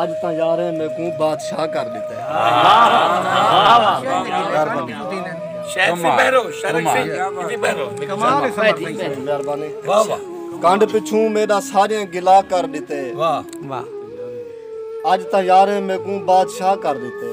اج تاں یاریں میکوں بادشاہ کر ڈتے۔ کنڈ پچھوں میڈا ساریاں گلا کر ڈتے۔ اج تاں یاریں میکوں بادشاہ کر ڈتے۔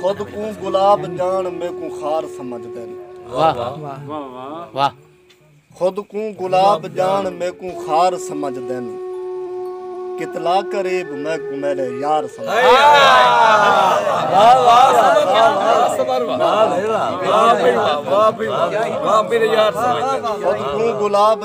خود کوں گلاب جان میں کوں خار سمجھ دین خود کوں گلاب جان میں کوں خار سمجھ دین کتلا قریب میں کوں میرے یار سمجھ دین خود کوں گلاب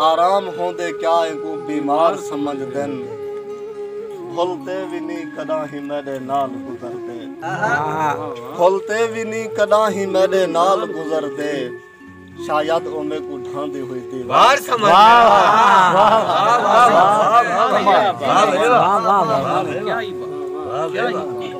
آرام ہوندے کیا اینکوں بیمار سمجھ دن بھل تے وی نی کڈاں ہی میڈے نال گزر دے بھل تے وی نی کڈاں ہی میڈے نال گزر دے شاید او میں کو ڈھان دی ہوئی تھی بار سمجھ دے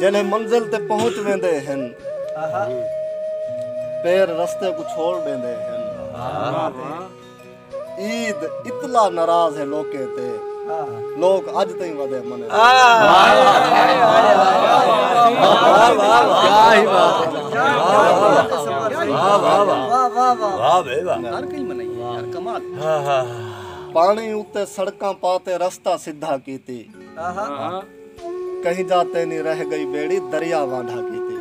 جلے منزل تے پہنچ ویندے ہیں پیر رستے کو چھوڑ دیندے ہیں عید اتلا ناراض ہے لوگ کہتے لوگ اج تئیں ودے منے ہر کئی منائی ہر کمال پاݨی اتے سڑکاں پا تے رستہ سدھا کیتی کہیں جا تے نی رہ گئی بیڑی دریا وانڈھا کیتی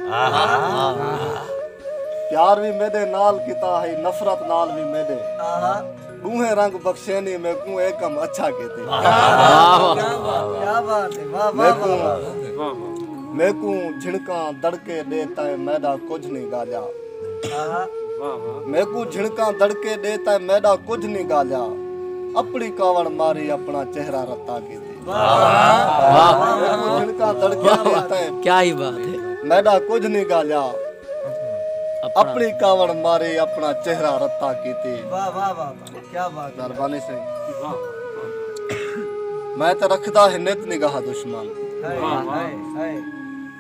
پیار وی میڈے نال کیتا ہئی نفرت نال وی میڈے ڈوہیں رنگ بخشینی میکوں اے کم اچھا کیتی میکوں جھنکاں دڑکے ڈے تائیں میڈا کجھ نی گالیا میکوں جھنکاں دڑکے ڈے تے میڈا کجھ نہیں گالیا اپنی کاوڑ ماری اپنا چہرہ رتا کی دی جھنکاں دڑکے دے تے کیا ہی بات ہے میڈا کجھ نہیں گالیا اپنی کاوڑ ماری اپنا چہرہ رتا کی دی واہ واہ واہ کیا بات ہے دربانی سے میں تے رکھدا ہے نت نگاہ دشمن ہائے ہائے ہائے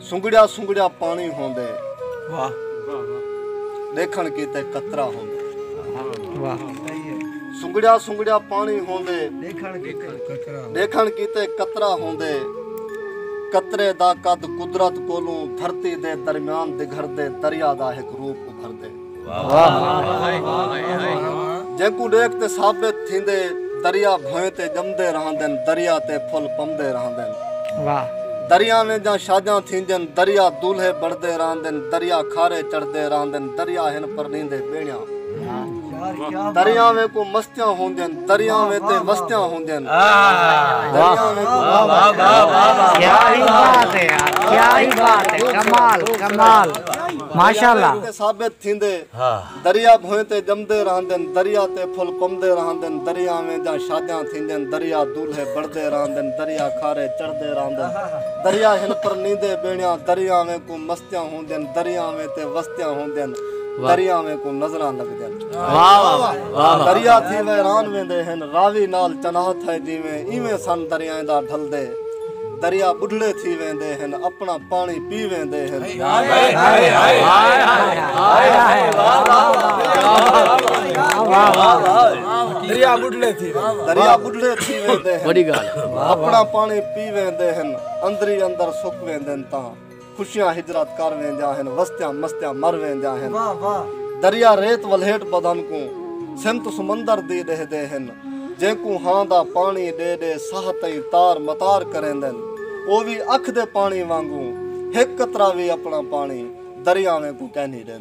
سنگڑیا سنگڑیا پانی ہوندے ڈیکھن کیتے قطرہ ہوندے سنگڑیا سنگڑیا پانی ہوندے ڈیکھن کیتے قطرہ ہوندے قطرے دا قد قدرت کولوں دھرتی دے درمیان دگھردے دریا دا ہک روپ ابھردے جینکوں ڈیکھ تے ثابت تھیندے دریا بھوئیں تے جمدے رہندن دریا تے پھل پمدے رہندن دریا ویں جاں شاجاں تھیندن دریا دولھے بڑدے رہندن دریا کھارے چڑھدے رہندن دریا ہن پرنیندے بیڑیاں دریا ویں کو مستیاں ہوندن دریا ویں تے وستیاں ہوندن دریا ویں کو کیا ہی بات ہے کیا ہی بات ہے کمال کمال ماشاءاللہ تے ثابت تھیندے دریا بھوئیں تے جمدے رہندن دریا تے پھل کمدے رہندن دریا ویں جاں شادیاں تھیندن دریا دولھے بڑھدے رہندن دریا کھارے چڑھدے رہندن دریا ہن پرنیندے بیڑیاں دریا ویں کوں مستیاں ہوندن دریا ویں تے وستیاں ہوندن دریا ویں کوں نظراں لگدن دریا تھی ویران ویندے ہن راوی نال چناہ تھئے جیویں ایویں سن دریائیں دا ڈھلدے دریا ٻڈھڑے تھی ویندے ہن اپنا پانی پی ویندے ہن دریا ٻڈھڑے تھی دریا ٻڈھڑے تھی ویندے ہن اپنا پانی پی ویندے ہن اندری اندر سک ویندے ہن تاں خوشیاں ہجرت کر ویندیاں ہن وستیاں مستیاں مر ویندیاں ہن دریا ریت ولھیٹ بدن کوں سمت سمندر دی ݙیہدے ہن جینکوں ہاں دا پاݨی ݙے ݙے ساہ تئیں تار متار کریندن او وی اکھ دے پاݨی وانگوں ہک قطرہ وی اپݨا پاݨی دریاویں کوں کینھی ݙیندے۔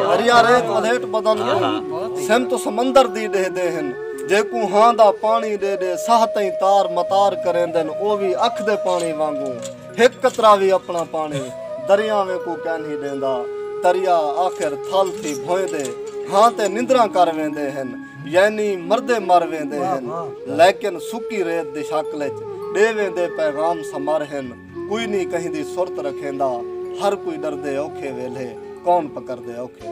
دریا ریت ودھیٹ بدن کو سم تو سمندر دی دے دے ہن جے کو ہاں دا پانی دے دے ساہ تائیں تار متار کریں دن او بھی اکھ دے پانی وانگو ہک قطرہ بھی اپنا پانی دریا میں کو کہن ہی دیندا دریا آخر تھل تھی بھوئیں دے ہاں تے نندراں کر ویندے ہن یعنی مردے مر ویندے ہن لیکن سکی ریت دی شکل وچ دے ویندے پیغام سمر ہن کوئی نی کہیں دی سرت رکھیندا ہر کوئی ڈردے اوکھے ویلھے کون پکردے اوکھے